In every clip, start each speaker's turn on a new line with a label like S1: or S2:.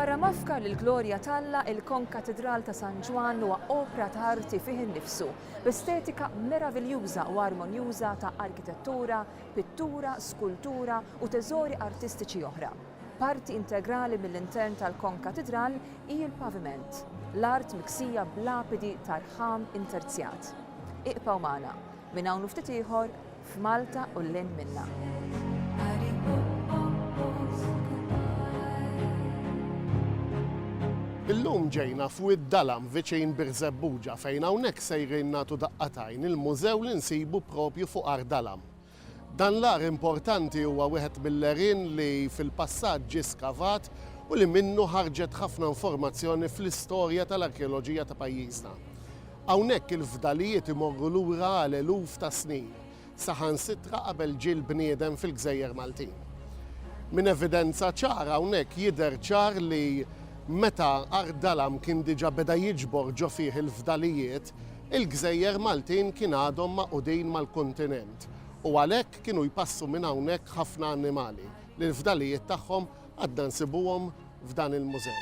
S1: Barra mafkar li l-glorja t'Alla, il-Konkatidral ta' San Ġwann huwa opra ta' arti fih innifsu, b'estetika meraviljuża u armonjuża ta' arkitettura, pittura, skultura u teżori artistiċi oħra. Parti integrali mill-intern tal-konkatidral hi l-paviment, l-art miksija b'lapidi ta' rħam interzjat. Iqbgħu magħna, minn hawn u ftit ieħor, f'Malta u 'l hinn minnha.
S2: Illum ġejna f'Wied Dalam viċin Birżebbuġa fejn hawnhekk sejrin nagħtu daqqa t'għajn il-mużew li nsibu propju fuq Għar Dalam. Dan l-għar importanti huwa wieħed mill-għerien li fil-passat ġie skavat u li minnu ħarġet ħafna informazzjoni fl-istorja tal-arkeoloġija ta' pajjiżna. Hawnhekk il-fdalijiet imorru lura għal eluf ta' snin, saħansitra qabel ġie l-bniedem fil-gżejjer Maltin. Minn evidenza ċara hawnhekk jidher ċar li meta Għar Dalam kien diġà beda jiġbor ġo fih il-fdalijiet, il-gżejjer Maltin kien għadhom magħqudin mal-kuntinent u għalhekk kienu jpassu minn hawnhekk ħafna annimali li l-fdalijiet tagħhom għadna nsibuhom f'dan il-mużew.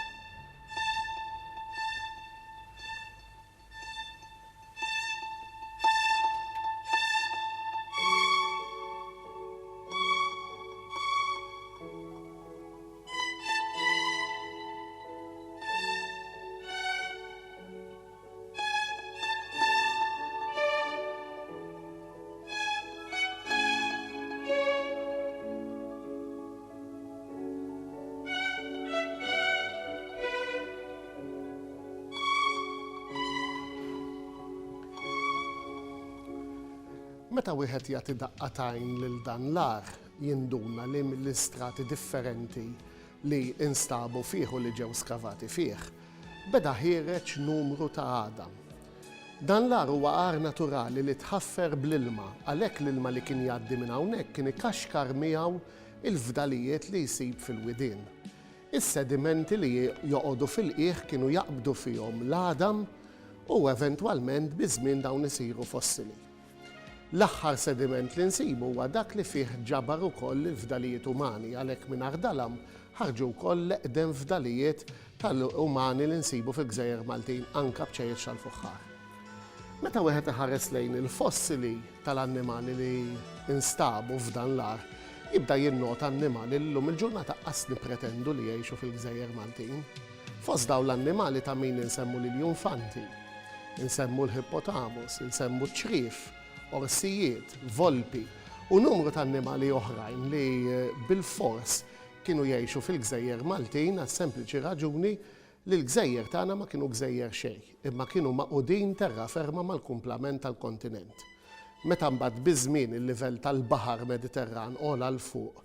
S2: Meta wieħed jagħti daqqa tajn lil dan l-ar, jinduna li mill-istrati differenti li instabu fih u li ġew skavati fih, beda ħiereġ numru ta' għadam. Dan l-għar huwa għar naturali li tħaffer bl-ilma, għalhekk l-ilma li kien jgħaddi minn hawnhekk kien ikaxkar miegħu l-fdalijiet li jsib fil-widien. Is-sedimenti li joqogħdu fil-qiegħ kienu jaqbdu fihom l-għadam u eventwalment biż-żmien dawn isiru fossili. L-aħħar sediment li nsibu huwa dak li fih ġabar ukoll il-fdalijiet umani, għalhekk minn Ardalam ħarġu wkoll l-eqdem fdalijiet tal-umani li nsibu fil-gżejjer Maltin, anke bċejjeċ tal-fuħħar. Meta wieħed iħares lejn il-fossili tal-annimali li nstabu f'dan l-għar, jibda jinnota annimali li llum il-ġurnata qas nippretendu li jgħixu fil-gżejjer Maltin. Fost dawn l-annimali ta' min insemmu l-iljunfanti, insemmu l-hippotamus, insemmu ċ-ċriev, orsijiet, volpi u numru ta' annimali oħrajn li bilfors kienu jgħixu fil-gżejjer Maltin għas-sempliċi raġuni li l-gżejjer tagħna ma kienu gżejjer xejn, imma kienu magħqudin terra ferma mal-kumplament tal-kontinent. Meta mbagħad biż-żmien il-livell tal-Baħar Mediterran għola 'l fuq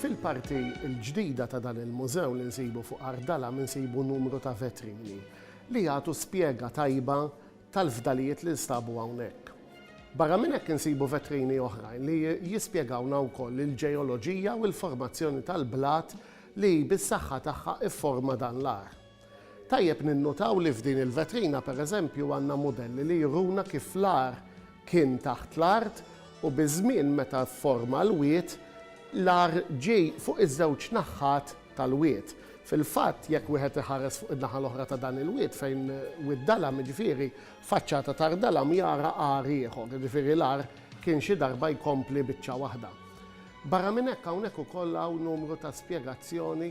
S2: Fil-parti l-ġdida ta' dan il-mużew li nsibu fuq Għar Dalam insibu numru ta' vetrini li jagħtu spjega tajba tal-fdalijiet li nstabu hawnhekk. Barra minn hekk insibu vetrini oħrajn li jispjegawna wkoll il-ġeoloġija u l-formazzjoni tal-blat li bis-saħħa tagħha fforma dan l-għar. Tajjeb ninnutaw li f'din il-vetrina pereżempju għandna mudelli li juruna kif l-agħar kien taħt l-art u biż-żmien meta fforma l-wied, l-agħar ġie fuq iż-żewġ naħat tal-wied. Fil-fatt, jekk wieħed iħares fuq in-naħa l-oħra ta' dan il-wied fejn Wied Dalam, jiġifieri faċċata ta' Rdalam, jara agħar ieħor, jiġifieri l-agħar kien xi darba jkompli biċċa waħda. Barra minn hekk hawnhekk ukoll hawn numru ta' spjegazzjoni.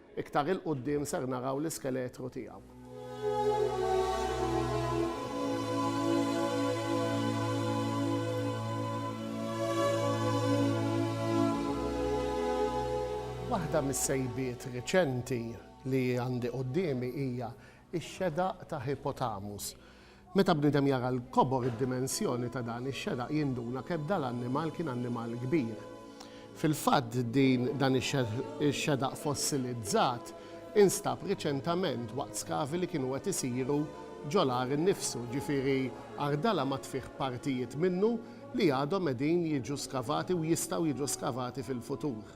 S2: Iktar 'il quddiem ser naraw l-iskeletru tiegħu. Waħda mis-sejbiet reċenti li għandi quddiemi hija x-xedaq ta' Hippotamus. Meta bniedem jara l-kobor id-dimensjoni ta' dan ix-xeraq jinduna kemm dan l-annimal kien annimal kbir. Fil-fatt din dan ix-xeraq fossilizzat instab riċentament waqt skavi li kienu qed isiru ġo l-għar innifsu, ġifieri Ardala ma tfih partijiet minnu li għadhom qegħdin jiġu skavati u jistgħu jiġu skavati fil-futur.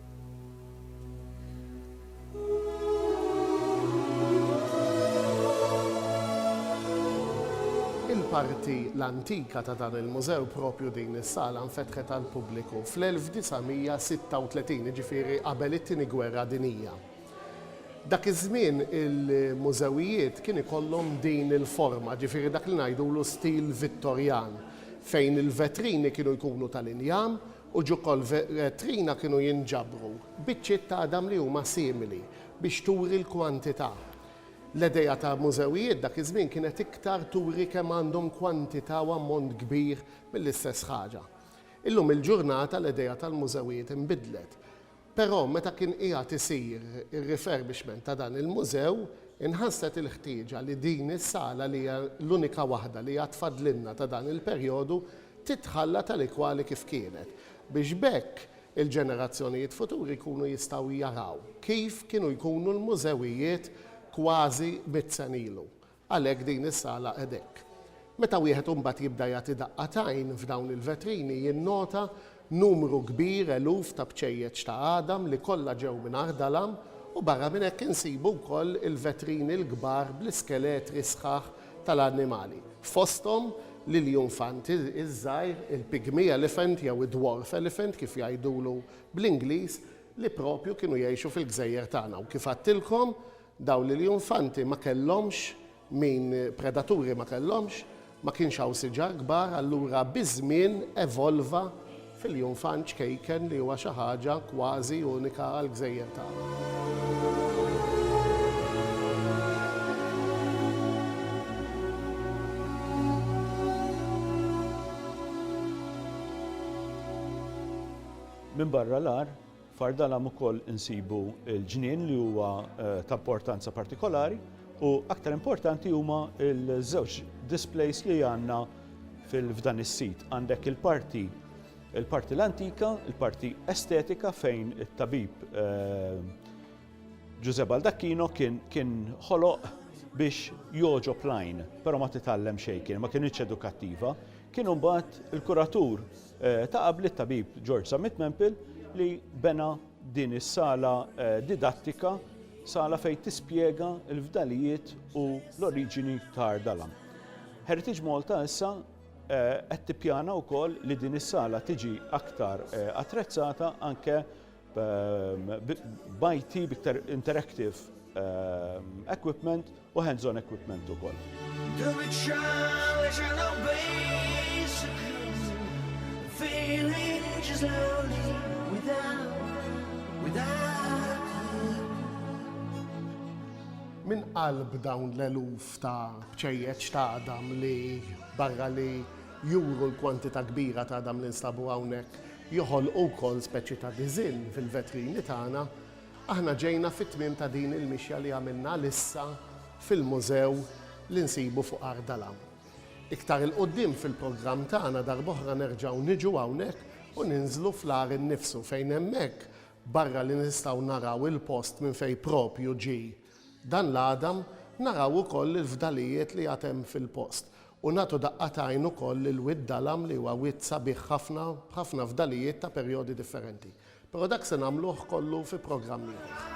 S2: Il-parti l-antika ta' dan il-mużew, proprju din is-sala, nfetħet għall-pubbliku fl-1936, jiġifieri qabel it-Tieni Gwerra Dinjija. Dak iż-żmien il-mużewijiet kien ikollhom din il-forma, jiġifieri dak li ngħidulu stil Vittorjan, fejn il-vetrini kienu jkunu tal-injam u ġukolvetrina kienu jinġabru biċċiet ta' għadam li huma simili biex turi l-kwantità. L-idea ta' mużewijiet dak iż-żmien kienet iktar turi kemm għandhom kwantità u ammont kbir mill-istess ħaġa. Illum il-ġurnata l-idea tal-mużewijiet inbidlet. Però meta kien qiegħed isir ir-refurbishment ta' dan il-mużew, inħasset il-ħtieġa li din is-sala li hija l-unika waħda li għad fadlilna ta' dan il-perjodu titħalla tali kwali kif kienet, biex b'hekk il-ġenerazzjonijiet futuri jkunu jistgħu jaraw kif kienu jkunu l-mużewijiet kważi mitt sena ilu. Għalhekk din is-sala qed hekk. Meta wieħed imbagħad jibda jagħti daqqa t'għajn f'dawn il-vetrini jinnota numru kbir eluf ta' bċejjeċ ta' għadam li kollha ġew minn Ardalam u barra minn hekk insibu wkoll il-vetrini l-kbar bl-iskeletri sħaħ tal-annimali, fosthom l-iljunfant iż-żgħir, il-pygmy elephant jew id-dwarf elephant kif jgħidulu bl-Ingliż, li proprju kienu jgħixu fil-gżejjer tagħna u kif għadtilkom Dawn l-iljunfanti ma kellhomx min predaturi ma kellhomx, ma kienx hawn siġar kbar allura biż-żmien evolva f'iljunfant ċkejken li huwa xi ħaġa kważi unika għall-gżejjer tagħna.
S3: Minbarra l-għar, F'Ardalam ukoll insibu l-ġnien li huwa ta' importanza partikolari u aktar importanti huma l-żewġ displays li għandna f'dan is-sit. Għandek il-parti il-parti l-antika, il-parti estetika fejn it-tabib Ġużè Baldacchino kien kien ħoloq biex jogħġob l-għajn, però ma titgħallem xejn kien, ma kinitx edukattiva. Kien imbagħad il-kuratur Ta' qabli t-tabib George Zammit Mempil li bena din is-sala didattika, sala fejn tispjega l-fdalijiet u l-oriġini ta' Ardalan. Heritage Malta issa qed tippjana wkoll li din is-sala tiġi aktar attrezzata anke b'IT, b'iktar interactive equipment u hands-on equipment ukoll.
S2: Min qalb dawn l-eluf ta' bċejjeċ ta' għadam li barra li juru l-kwantità kbira ta' għadam li nstabu hawnhekk, joħolqu wkoll speċi ta' diżinn fil-vetrini tagħna, aħna ġejna fit-tmiem ta' din il-mixja li għamilna għalissa fil-mużew li nsibu fuq Għar Dalam. Iktar 'il quddiem fil-programm tagħna darb'oħra nerġgħu niġu hawnhekk u ninżlu fl-għar innifsu fejn hemmhekk, barra li nistgħu naraw il-post minn fejn proprju ġie, Dan l-għada naraw ukoll il-fdalijiet li għad hemm fil-post u nagħtu daqqa t'għajn ukoll lil Wied Dalam li huwa wied sabiħ ħafna b'ħafna fdalijiet ta' perjodi differenti. Però dak se nagħmluh kollu fi programm ieħor.